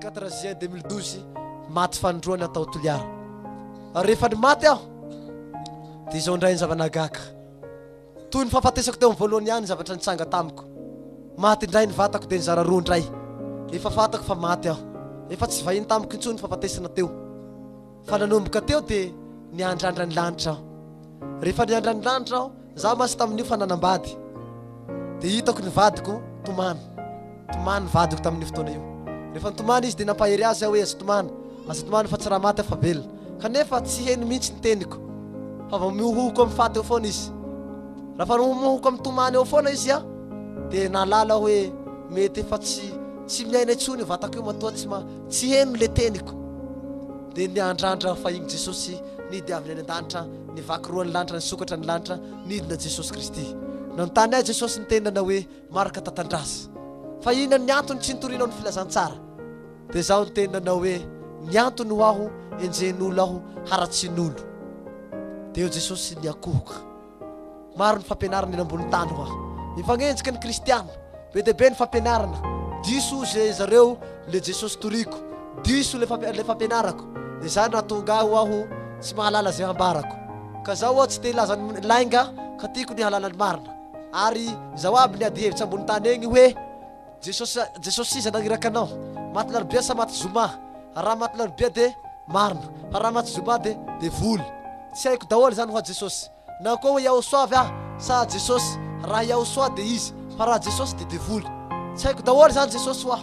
Quatre juin 2012 maty fanindroany atao Toliara ary rehefa ny maty aho dia izao indray ny zava-nahagaga toy ny fahafatesako teo amin'ny voalohany ihany zavatra nitsanga tamiko maty indray ny vatako dia nizara roa indray efa fatako fa maty aho efa tsy vahiny tamiko intsony fahafatesana teo Fa nanomboka teo dia niandrandra ny lanitra aho. Rehefa niandra ny lanitra aho, izaho mantsy tamin'io fa nanambady, dia hitako ny vadiko tomany. Tomany ny vadiko tamin'io fotoana io. Rehefa nitomany izy dia nampahery azy aho hoe, Aza tomany, aza tomany fa tsy raha maty aho fa velona. Kanefa tsy heno mihitsy ny teniko, fa vao mihohoka amin'ny faty eo foana izy. Raha fa mihohoka amin'ny tomany eo foana izy an, dia nahalala aho hoe mety efa tsy tsy miaina intsony io vatako io, matoa tsy ma. Tsy heno le teniko dia niandrandra fahiny Jesosy nidy avy any an-danitra nivaky roa ny lanitra nisokatra ny lanitra nidina Jesosy Kristy nanontany ahy Jesosy ny teny nanao hoe marka tatandraza fa inona ny antony tsy nitorinao ny filazantsara dia zaho ny teny nanao hoe ny antony ho aho enjehin'olo aho haratsian'olo dia eo Jesosy niakohoka Maro ny fampianarana eny ambony tany hoa. Mifanenjika ny kristiana. Be dia be ny fampianarana. Diso hoy ze zareo le Jesosy toriko. Diso le fampi le fampianarako. De zany nahatonga ahy hoa ho tsy mahalala ze hambarako. Ka zaho hoa tsy te hilaza ny lainga ka tiako ny hahalala ny marina. Ary izao aby ny adi hevitsa ambony tany egny hoe. Jesosy a Jesosy iza nagniraka anao? Maty larobia sa maty zoma? Raha maty larobia de marina fa raha maty zoma de devoly. Tsy haiko daholo zany hoa Jesosy. Na koa hoe Iahosoa avy aho sa Jesosy, raha Iahosoa de izy fa raha Jesosy de devoly. Tsy haiko daholo zany Jesosy hoa.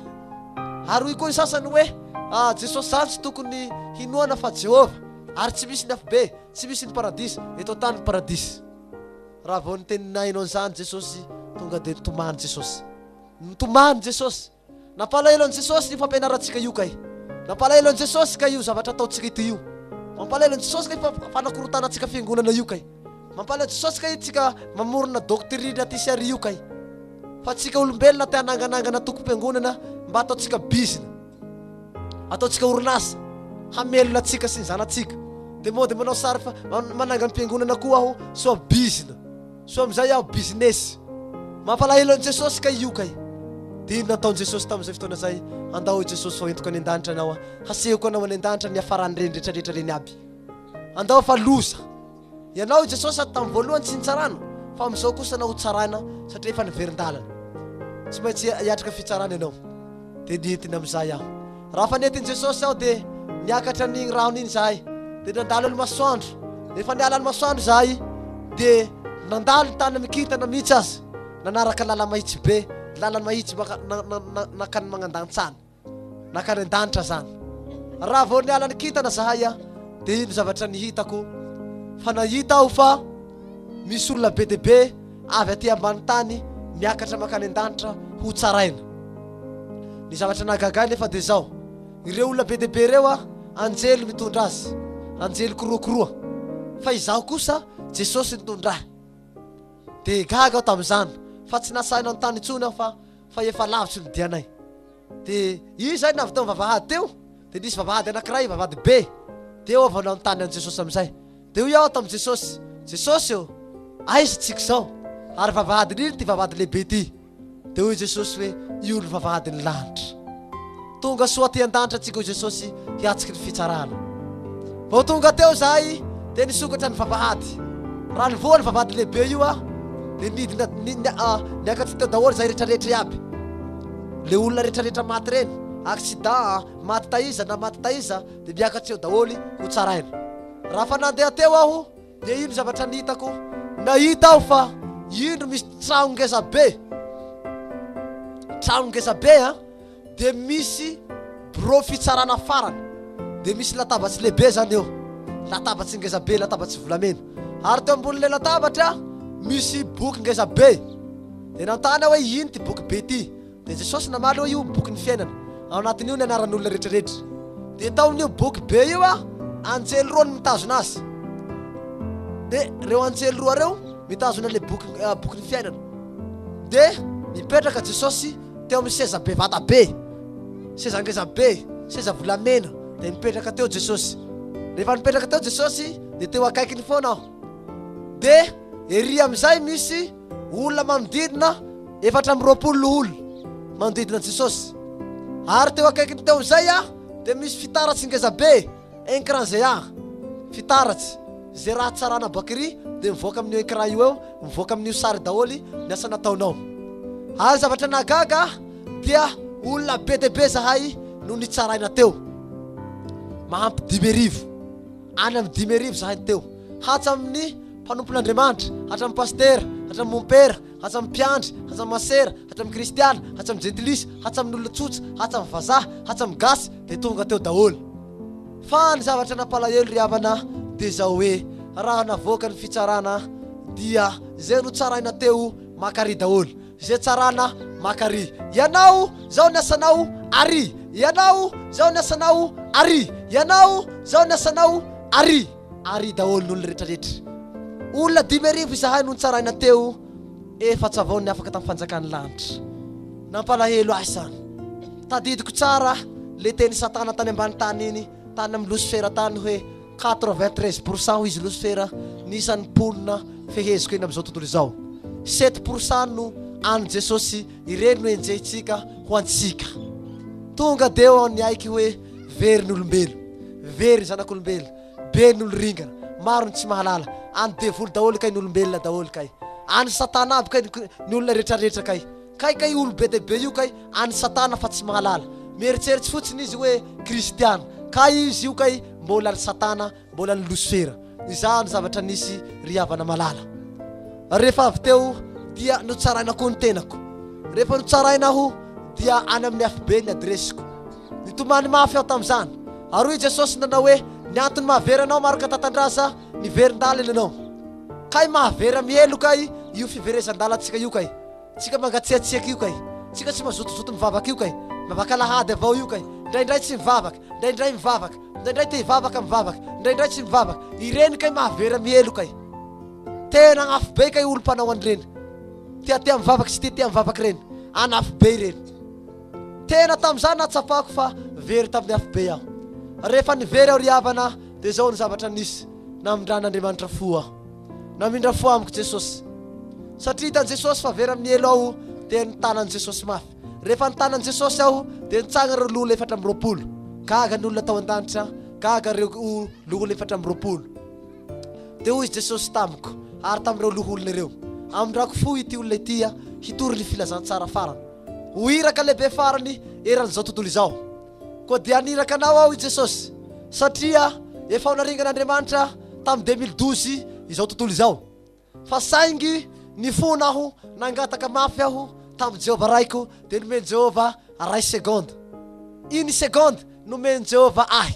Ary hoy koa ny sasany hoe ah Jesosy zany tsy tokony hinoana fa Jehovah. Ary tsy misy ny afobe, tsy misy ny paradisa eto an-tany ny paradisa. Raha vao nitenin'ainao an'izany Jesosy, tonga dia nitomany Jesosy. Nitomany Jesosy. Nampalahelo an'i Jesosy io fampianarantsika io kay. Nampalahelo an'i Jesosy kay io zavatra ataontsika ity io. Mampalahelo an'i Jesosy kay fa fanakorontanantsika fiangonana io kay. Mampalahelo an'i Jesosy kay tsika mamorona doctrine aty sy ary io kay. Fa tsika olombelona te hananganangana tokom-piangonana mba ataontsika bizina. ataontsika orinasa hamelona antsika sy ny zanatsika de moa de manao sary fa mananga ny piangonana koa aho soa bizina soa amizay aho business mampalahelo an'i jesosy ka io kay de ino nataon'i jesosy tamin'izay fotoana zay andao i jesosy fa entiko any an-danitra anao a hasehoko anao any an-danitra ny afarany reny retraretra reny aby andao fa loza Ianao i Jesosy sady tamin'ny voalohany tsy nitsarana fa amin'izao kosa anao hotsaraina satria efa niverin-dalana. Tsy maintsy hiatrika fitsarana ianao. Dia nidina amin'izay aho. Raha efa nentin'i Jesosy aho dia niakatra an'iny rano iny izahay dia nandalo ny masoandro. Rehefa niala ny masoandro izahay dia nandalo ny tany mikintana mihitsy aza. Nanaraka lala-mahitsy be, lala-mahitsy maka, na, na, na, nankany magnandantsana. Nankany an-danitra zany. Raha vao niala ny kintana zahay a, dia iny zavatra nihitako, fa nahita aho fa misy olona be dia be avy aty ambany tany miakatra mankany an-danitra ho tsaraina. Ny zavatra nahagaga ahy nefa dia zao, ireo olona be dia be ireo a, anjely mitondra azy, anjely korokoroa, fa izaho kosa Jesosy nitondra ahy. Dia gaga aho tamin'izany, fa tsy nasahy nanontany intsony aho fa fa efa lavitry ny dianay dia io izay navy teo amin'ny vavahady teo dia nisy vavahady anankiray vavahady be dia eo avy eo nanontany an'i Jesosy amin'izay dia hoy aho tamin'i Jesosy Jesosy ô aiza tsika izao ary vavahadin'ino ity vavahady lehibe ity dia hoy Jesosy hoe io ny vavahadin'ny lanitra Tonga soa aty an-danitra antsika hoy Jesosy hiatriky ny fitsarana. Vao tonga teo izahay dia nisokatra ny vavahady. Raha nivoha ny vavahady lehibe io aho dia nidina ni, ni, ah, niakatsy teo daholo izahay rehetrarehetra iaby. Le olona rehetrarehetra maty ireny, accident, ah, maty taiza na maty taiza dia miakatsy eo daholo ho tsaraina. Raha fa nandeha teo aho Dia indro zavatra nitako, nahita aho fa indro misy trano ngeza be, trano ngeza be an, dia misy birao fitsarana farany, dia misy latabatsy lehibe zany eo, latabatsy ngeza be, latabatsy volamena, ary teo ambonin'ilay latabatra misy boky ngeza be, dia nanontany aho hoe ino ity boky be ity, Dia Jesosy namaly hoe io boky ny fiainana, ao anatin'io ny anaran'olona rehetrarehetra. Dia tao amin'io boky be io an, anjely roa no mitazona azy. Dia ireo anjely roa ireo mitazona ilay boky, ah, boky ny fiainana. Dia mipetraka Jesosy teo amin'ny seza be vata be, seza ngeza be, seza volamena. Dia mipetraka teo Jesosy. Rehefa nipetraka teo Jesosy, dia teo akaikiny foana aho. Dia ery amin'izay misy Olona manodidina efatra amby roapolo no olona manodidina an'i Jesosy. Ary teo akaikiny teo amin'izay dia misy fitaratsy ngeza be, ecran zear, fitaratsy. Izay raha tsarana bakiri dia mivoaka amin'io ecran io eo, mivoaka amin'io sary daholo ny asa nataonao. Ary zavatra nahagaga ahy dia olona be dia be izahay no nitsaraina teo. Mahampy dimy arivo, any amin'ny dimy arivo izahay no teo. Hatsamin'ny mpanompon'Andriamanitra, hatramin'ny pasitera, hatramin'ny mompera, hatsamin'ny mpiandry, hatsamin'ny masera, hatramin'ny kristiana, hatsamin'ny jentilisa, hatsamin'olona tsotra, hatsamin'ny vazaha, hatsamin'ny gasy, dia tonga teo daholo. Fa ny zavatra nampalahelo ry havana dia izao hoe raha navoaka ny fitsarana dia izay notsaraina teo maka àry daholo, izay tsarana maka àry, ianao izao ny asanao àry, ianao izao ny asanao àry, ianao izao ny asanao àry. Ary daholo ny olona retraretra. Olona dimy arivo izahay no nitsaraina teo efatra vao ny afaka tamin'ny fanjakan'ny lanitra. Nampalahelo ahy izany. Tadidiko tsara le teny satana tany ambany tany iny tany amin'ny losifera tany hoe quatre vingt treize pour cent hoy izy losifera ny isan'ny mponina feheziko eny amin'izao tontolo izao. Sept pour cent no an'ny jesosy ireny no enjehintsika ho antsika. Tonga deo aho niaiky hoe Very ny olombelo, very ny zanak'olombelo, be ny olo-ringana, maro ny tsy mahalala, any devoly daholo kay ny olombelona daholo kay, any satana aby kay ny ny olona retraretra kay, kay kay olo be dia be io kay any satana fa tsy mahalala, mieritseritsy fotsiny izy hoe kristiana, kay izy io kay mbola ry satana Mbola ny losera. Nizaha ny zavatra nisy ry havana malala. Rehefa avy teo dia notsaraina koa ny tenako. Rehefa notsaraina aho dia any amin'ny afobe ny adiresiko. Nitomany mafy aho tamin'izany. Ary hoy Jesosy nanao hoe ny antony mahavery anao Marc Tatandraza miverin-dalana ianao. Kay mahavera miheloka io fiverezan-dalantsika io kay. Tsika mangatsiatsiaka io kay, tsika tsy mazotozoto mivavaka io kay, mivavaka alahady avao io kay, ndraindray tsy mivavaka, ndraindray mivavaka, ndraindray te hivavaka mivavaka, ndraindray tsy mivavaka, ireny kay mahavera miheloka e! Tena agn'afo be kay olo mpanao an'ireny, tiatia mivavaka tsy tiatia mivavaka ireny, an'afo be ireny. Tena tamin'izay nahatsapako fa very tamin'ny afo be aho. Rehefa nivery aho ry havana dia izao ny zavatra nisy, namindran'Andriamanitra fo aho. Namindra fo amiko Jesosy. Satria hitan'i Jesosy fa very amin'ny helo aho dia nitana an'i Jesosy mafy. Rehefa nitana an'i Jesosy aho dia nitsangana ireo loholona efatra amby roapolo. Gaga ny olona tao an-danitra, gaga ireo loholona efatra amby roapolo. Dia hoy Jesosy tamiko ary tamin'ireo loholona ireo, Amindrako fo ity olona ity hitory ny filazantsara farany ho iraka lehibe farany eran'izao tontolo izao. Koa dia haniraka anao aho i Jesosy satria efa ho naringan'Andriamanitra tamin'ny deux mille douze izao tontolo izao. Fa saingy nifona aho, nangataka mafy aho tamin'i Jehovah Raiko dia nomen'i Jehovah ray seconde. Une seconde nomen'i Jehovah ahy.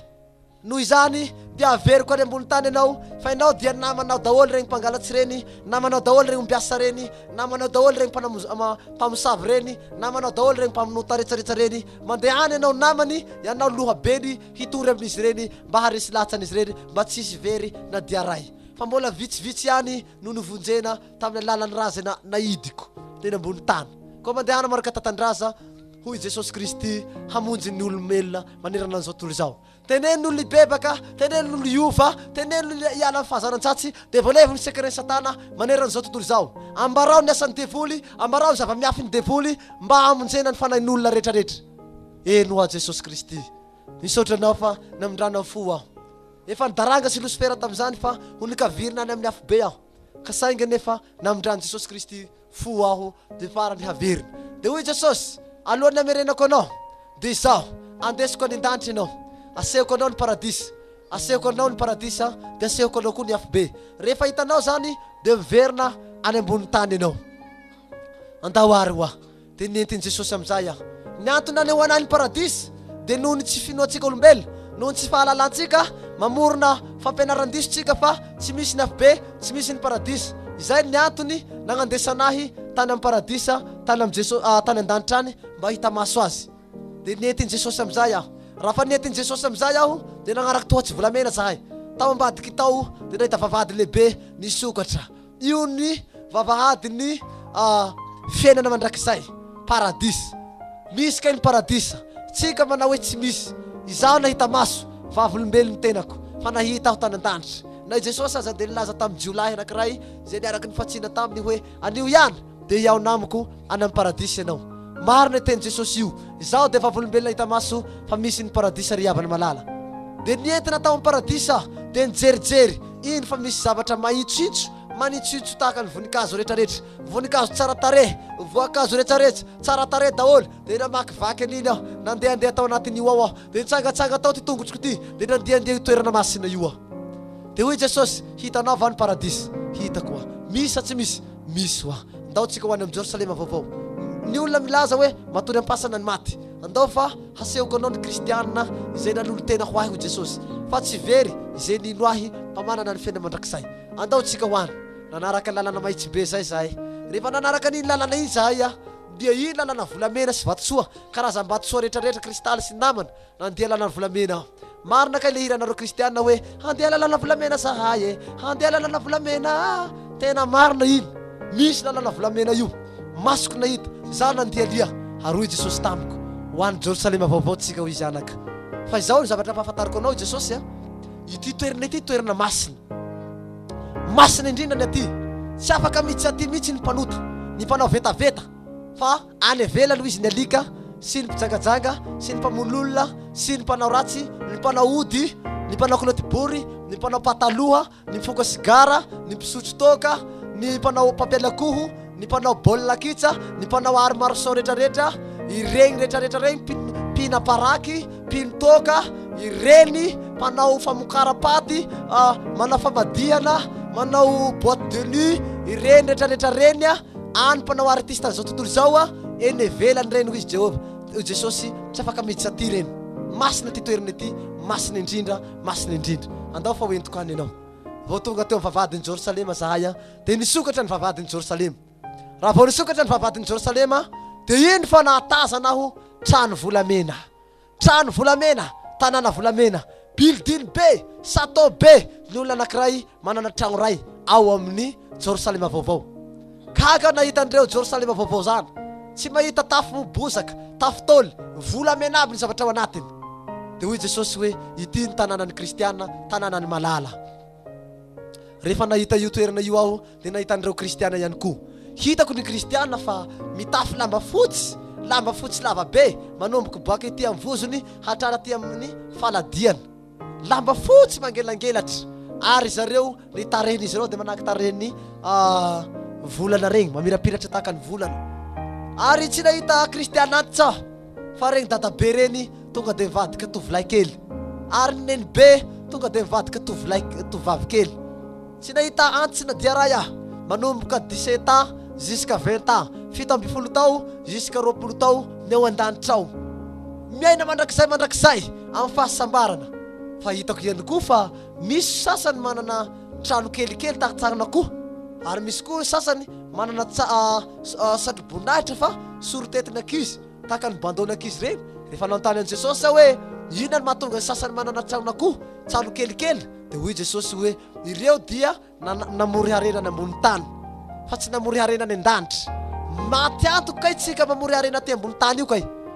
Noho izany, dia averiko any ambony tany ianao, fa ianao dia namanao daholo ireny mpangalatsy ireny, namanao daholo ireny ombiasa ireny, namanao daholo ireny mpanam-, mpamosavy ireny, namanao daholo ireny mpamonota retsaretsa ireny. Mandehana ianao namany, ianao lohabeny, hitory amin'izy ireny, mba haharesy lahatsany izy ireny, mba tsy hisy very na dia iray. Fa mbola vitsivitsy ihany no novonjena tamin'ny alalan'ny razana naidiko teny ambony tany. Koa mandehana marak'antatandraza, Hoy Jesosy Kristy hamonjy ny olomelona manerana an'izao tontolo izao. Teneno ny olona hibebaka, teneno ny olona hiova, teneno ny olona hiala amin'ny fahazaran-tsatsy, dia voalevo ny secret-n'i Satana manerana an'izao tontolo izao. Ambarao ny asan'ny devoly, ambarao ny zava-miafin'ny devoly mba hamonjena ny fanahin'olona rehetrarehetra. Eny hoa Jesosy Kristy, misaotra Anao fa namindranao fo aho. Efa nidaranga sy losifera tamin'izany fa ho nikavirina any amin'ny afobe aho, ka saingy anefa namindran'i Jesosy Kristy fo aho dia farany haverina. Dia hoy Jesosy, Alohan'ny hamerenako anao, dia Izaho, andesiko any an-danitra ianao. Asehoko anao ny paradisa. Asehoko anao ny paradisa, dia asehoko anao koa ny afobe. Rehefa hitanao izany, dia miverina any ambonin'ny tany ianao. Andao àry ho aho. Dia nentin'i Jesosy amin'izay aho. Ny antony nanehoana ahy ny paradisa, dia noho ny tsy finoantsika olombelona, noho ny tsy fahalalantsika, mamorona fampianaran-diso tsika fa tsy misy ny afobe, tsy misy ny paradisa. Izay ny antony nagnandesana ahy tany amin'ny paradisa tany amin'i Jeso- ah, tany an-danitra any mba hita maso azy. Dia nientin'i Jesosy amin'izay aho. Raha fa nientin'i Jesosy amin'izay aho, dia nagnaraka tohatsyvolamena zahay. Tao ambadik'i Tao dia nahita vavahady lehibe nisokatra. Io ny vavahadin'ny fiainana mandrakizay, paradisa. Misy kay ny paradisa. Tsy ka manao hoe tsy misy. Izaho nahita maso, vavolombelon'ny tenako, fa nahita aho tany an-danitra. Na i Jesosy aza dia nilaza tamin'ny jiolahy anankiray izay niaraka nifantsina taminy hoe, Anio ihany, dia hihaona amiko any amin'ny paradisa ianao. Marina io tenin'i Jesosy io. Izaho dia vavolombelona hita maso fa misy ny paradisa ry havana malala. Dia nientina tao amin'ny paradisa aho, dia nijerijery, iny fa misy zavatra mahitsitsy, manitsitsy tahaka ny voninkazo rehetrarehetra, voninkazo tsara tarehy, voankazo rehetrarehetra tsara tarehy daholo. Dia namakivaky an'iny aho, nandehandeha tao anatin'io ao aho. Dia nitsangatsanga tao ity tongotroko ity, dia nandehandeha io toerana masina io aho. Dia hoy i Jesosy, Hitanao va ny Paradisa? Hitako hoa. Misy sa tsy misy? Misy hoa. Ndao tsika ho any amin'ny Jerosalema vaovao. Ny olona milaza hoe matory am-pasana ny maty. Andao fa hasehoko anao ny Kristiana izay nanolo-tena ho ahy, hoy Jesosy, fa tsy very izay nino ahy fa manana ny fiainana mandrakizay. Andao tsika ho any. Nanaraka ny lalana mahitsy be izay izahay. Rehefa nanaraka an'iny lalana iny izahay, dia iny lalana volamena sy vatosoa Karazam-batosoa rehetrarehetra, kristaly sy namana, nandeha lalana volamena aho. Marina kay le hiranareo kristiana hoe, handeha lalana volamena zahay e, handeha lalana volamena a! Tena marina iny, misy lalana volamena io. Masoko nahita, izaho nandia lia, ary hoy Jesosy tamiko, ho any Jerosalema vaovao tsika hoy izy anaka. Fa izao no zavatra ampahafantariko anao hoy Jesosy a, ity toerana ity toerana masina. Masina indrindra ny aty. Tsy afaka mitsy aty mitsy ny mpanota, ny mpanao vetaveta, fa. Any ivelany hoy izy ny alika sy ny mpijangajanga sy ny mpamono olona sy ny mpanao ratsy, ny mpanao ody, ny mpanao kilaoty bory, ny mpanao pataloha, ny mpifoka sigara, ny mpisotro toaka, ny mpanao papelakoho, ny mpanao baolina kitsa, ny mpanao art martiaux retraretra, ireny retraretra ireny, mpina paraky, mpino toaka, ireny mpanao famokaram-paty, manao famadihana, manao boite de nuit, ireny retraretra ireny. Any mpanao artiste an'izao tontolo izao a, eny ivelany ireny hoy izy Jehovah, hoy Jesosy, tsy afaka miditra aty ireny. Masina ity toerana ity, masina indrindra, masina indrindra. Andao fa hoentiko any ianao. Vao tonga teo amin'ny vavahadin'i Jerosalema izahay a, dia nisokatra ny vavahadin'i Jerosalema. Raha vao nisokatra ny vavahadin'i Jerosalema, dia iny fa nahatazana aho trano volamena. Trano volamena, tanàna volamena, building be, chateau be ny olona anankiray manana tragno iray ao amin'ny Jerosalema Vaovao. Gaga nahita an'ireo Jerosalema Vaovao izany. Tsy mahita tafo bozaka, tafo taoly, volamena aby ny zavatra ao anatiny. Dia hoy Jesosy hoe, Ity ny tanànan'ny Kristiana, tanànan'ny malala. Rehefa nahita io toerana io aho dia nahita an'ireo kristiana ihany koa. Hitako ny kristiana fa mitafy lamba fotsy, lamba fotsy lava be, manomboka boaka ety amin'ny vozony hatrany aty amin'ny faladiany. Lamba fotsy mangelangelatra ary zareo ny tarehin'izy ireo dia manahaka tarehin'ny ah, volana regny, mamirapiratra tahaka ny volana. Ary tsy nahita kristiana antitsa aho. Fa reny dadabe reny tonga dia mivadika tovolahy kely, ary ny nenibe tonga dia mivadika tovolahy, tovovavy kely. Tsy nahita antsy na dia iray aho, manomboka dix-sept ans jusqu'à vingt ans, fito ambin'ny folo tao jusqu'à roapolo tao ny ao an-danitra ao. Miaina mandrakizay mandrakizay amin'ny fahasambarana. Fa hitako ihany koa fa misy sasany manana. trano kelikely tarintsarina koa ary misy koa ny sasany manana satroboninahitra fa sorotetin'ny ankizy tahaka ny bandeau ny ankizy ireny rehefa nanontany an'i Jesosy aho hoe inona no mahatonga ny sasany manana tranonakoho trano kelikely dia hoy Jesosy hoe ireo dia namory harena any ambony tany fa tsy namory harena any an-danitra maty antoka kay tsika mamory harena aty ambony tany io kay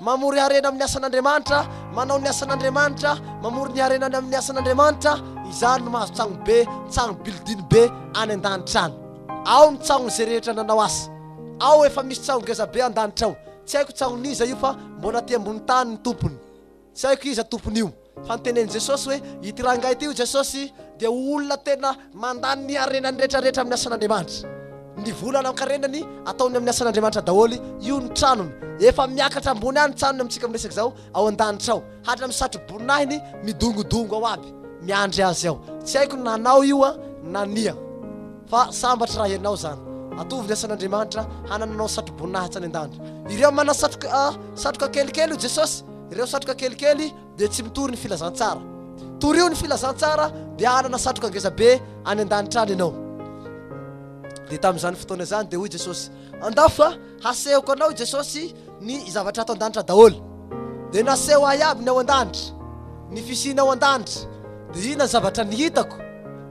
Mamory harena amin'ny asan'Andriamanitra, manao ny asan'Andriamanitra, mamory ny harenany amin'ny asan'Andriamanitra, izany no mahazo tsagno be, tsagno building be any an-danitra any. Ao ny tsagnon'izay rehetra nanao asa. Ao efa misy tsaho ngeza be an-danitra ao. Tsy haiko tsagnon'iza io fa mbola aty ambony tany ny tompony. Tsy haiko iza tompon'io. Fa notenenin'i Jesosy hoe ity rangahy ity hoy Jesosy dia ho olona tena mandany ny harenany rehetrarehetra amin'ny asan'Andriamanitra. Ny vola aman-karenany ataony amin'ny asan'Andriamanitra daholo, io ny tranony. Efa miakatra ambony any ny tranony amintsika miresaka izao ao an-danitra ao. Hatramin'ny satroboninahiny midongodongo ao aby, miandry azy ao. Tsy haiko na anao io na nia. Fa sambatra raha ianao izany. Atovy ny asan'Andriamanitra hanananao satroboninahitra any an-danitra. Ireo manana satroka kelikely hoy Jesosy. Ireo satroka kelikely dia tsy mitory ny filazantsara. Torio ny filazantsara dia hanana satroka ngezabe any an-danitra any ianao. Dia tamin'izany fotoana izany dia hoy Jesosy, Andao fa hasehoko anao i Jesosy ny zavatra ato an-danitra daholo. Dia naseho ahy aby ny ao an-danitra, ny fisiana ao an-danitra. Dia inona ny zavatra nihitako?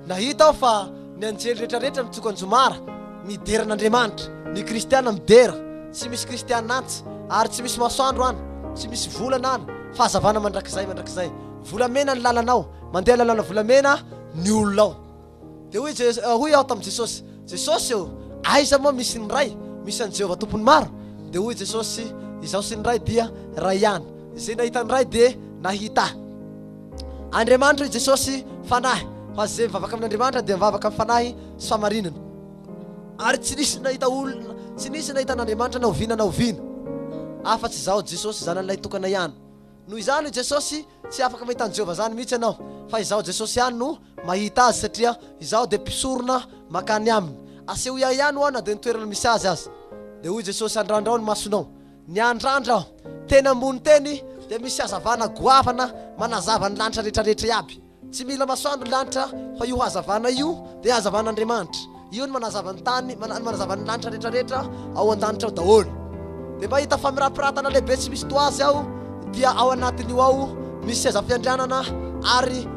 Nahita aho fa ny anjely rehetrarehetra nitsoka anjomara. Midera an'Andriamanitra. Ny kristiana midera. Tsy misy kristiana antsy. Ary tsy misy masoandro any. Tsy misy volana any. Fahazavana mandrakizay, mandrakizay. Volamena ny lalanao. Mandeha lalana volamena ny olona ao. Dia hoy Jesosy, hoy aho tamin'i Jesosy, Jesosy ô, aiza moa misy ny Ray? Misy an'i Jehovah Tompon'ny maro? Dia hoy Jesosy, Izaho sy ny Ray dia iray ihany. Izay nahita ny Ray dia nahita Ahy. Andriamanitra i Jesosy Fanahy, fa izay mivavaka amin'Andriamanitra dia mivavaka amin'ny Fanahy sy fahamarinana. Ary tsy nisy nahita olona, tsy nisy nahita an'Andriamanitra na oviana na oviana, afa-tsy izaho, Jesosy, Zanany Lahy Tokana ihany. Noho izany, hoy Jesosy, tsy afaka mahita an'i Jehovah izany mihitsy ianao, fa izaho, Jesosy, ihany no mahita azy, satria izaho dia mpisorona mankany aminy. Asehoy ahy ihany, ho'a na dia ny toerana misy azy aza. Dia hoy Jesosy, Andrandrao ny masonao. Ny andrandra aho teny ambony teny dia misy hazavana goavana manazava ny lanitra rehetra rehetra iaby. Tsy mila masoandro ny lanitra fa io hazavana io dia hazavan'Andriamanitra. Io no manazava ny tany, no manazava ny lanitra rehetra rehetra ao an-danitra ao daholo. Dia mahita famirapiratana lehibe tsy misy toazy aho dia ao anatin'io ao misy seza fiandrianana ary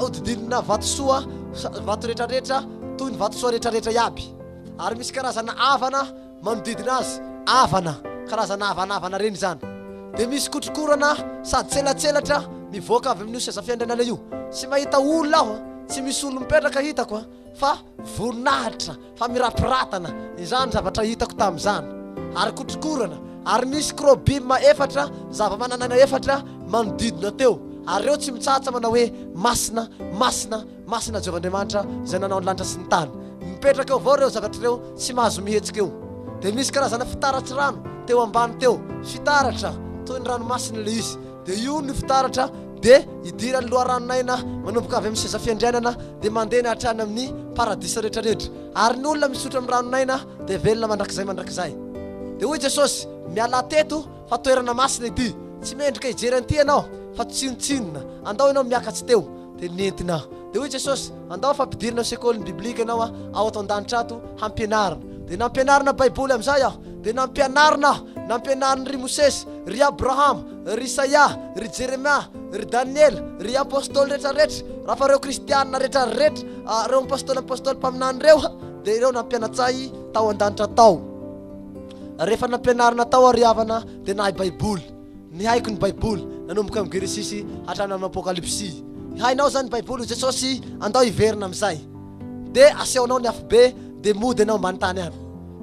hodidinina vatosoa, vato rehetra rehetra toy ny vatosoa rehetra rehetra iaby. Ary misy karazana avana manodidina azy, avana, karazana havanavana ireny izany. Dia misy kotrokorana sady tselatselatra mivoaka avy amin'io seza fiandrianana io. Tsy mahita olona aho, tsy misy olona mipetraka hitako fa voninahitra, fa mirapratana, izany ny zavatra hitako tamin'izany. Ary kotrokorana, ary nisy krobima efatra, zava-manan'aina efatra, manodidina teo, ary ireo tsy mitsahatra manao hoe, Masina, masina, Masina Jehovah Andriamanitra izay nanao ny lanitra sy ny tany. Mipetraka eo avao ireo zavatra ireo tsy mahazo mihetsika eo. Dia misy karazana fitaratsy rano teo ambany teo, fitaratra toy ny ranomasina ilay izy. Dia ionona io fitaratra dia idiran'ny loharanon'aina manomboka avy amin'ny seza fiandrianana dia mandena hatrany amin'ny paradisa rehetra rehetra. Ary ny olona misotro amin'ny ranon'aina dia velona mandrakizay mandrakizay. Dia hoy Jesosy, Mialà teto Fa toerana masina ity. Tsy mendrika hijery an'ity ianao, fa tsinontsinona. Andao ianao miakatsa teo. Dia nentina. Dia hoy Jesosy, Andao fa ampidirina ao sekolin'ny biblika ianao ao ato an-danitra ato, hampianarina. Dia nampianarina Baiboly amin'izay aho. Dia nampianarina aho. Nampianariny ry Mosesy, ry Abrahama, ry Isaia, ry Jeremia, ry Daniela, ry Apostoly rehetrarehetra. Raha fa ireo Kristiana rehetrarehetra, ireo Apostoly Apostoly mpaminany ireo, dia ireo nampianatsahy tao an-danitra tao. Rehefa nampianarina tao àry havana, dia nahay Baiboly. Nihaiko ny Baiboly, nanomboka amin'ny Genesisy hatrany amin'ny Apokalypsy. Hainao izany ny Baiboly, hoy Jesosy, andao hiverina amin'izay. Dia asehonao ny afobe, dia mody ianao ambany tany any.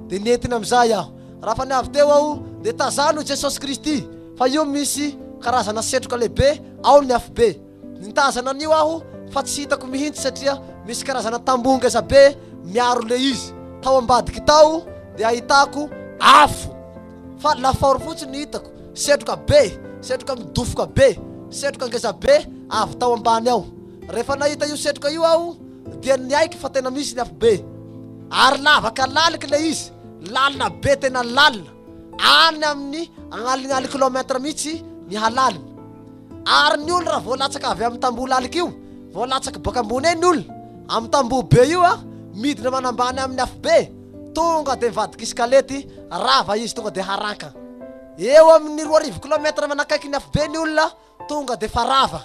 Dia nentina amin'izay aho. Raha fa ny avy teo aho, dia tazano i Jesosy Kristy, fa io misy karazana setroka lehibe ao ny afobe. Nitazana an'io aho fa tsy hitako mihintsy satria misy karazana tamboho ngeza be miaro le izy. Tao ambadiky tao dia ahitako afo fa lafaoro fotsiny ny hitako. Setroka be, setroka midofoka be, setroka ngeza be avy tao ambany ao. Rehefa nahita io setroka io aho dia niaiky fa tena misy ny afo be. Ary lavaka laliky le izy, lalina be tena lalina, any amin'ny agnalignalin kilometra mihitsy ny halaliny. Ary ny ol raha vao latsaka avy am tamboho lalika io, vao latsak boaka ambony eny ol am tamboho be io a, midina manambany aminy afobe, tonga de mivadika iskalety, rava izy tonga de haranka. Eo amin ny roa arivo kilometra manakaiky ny afobe ny olona tonga de fa rava.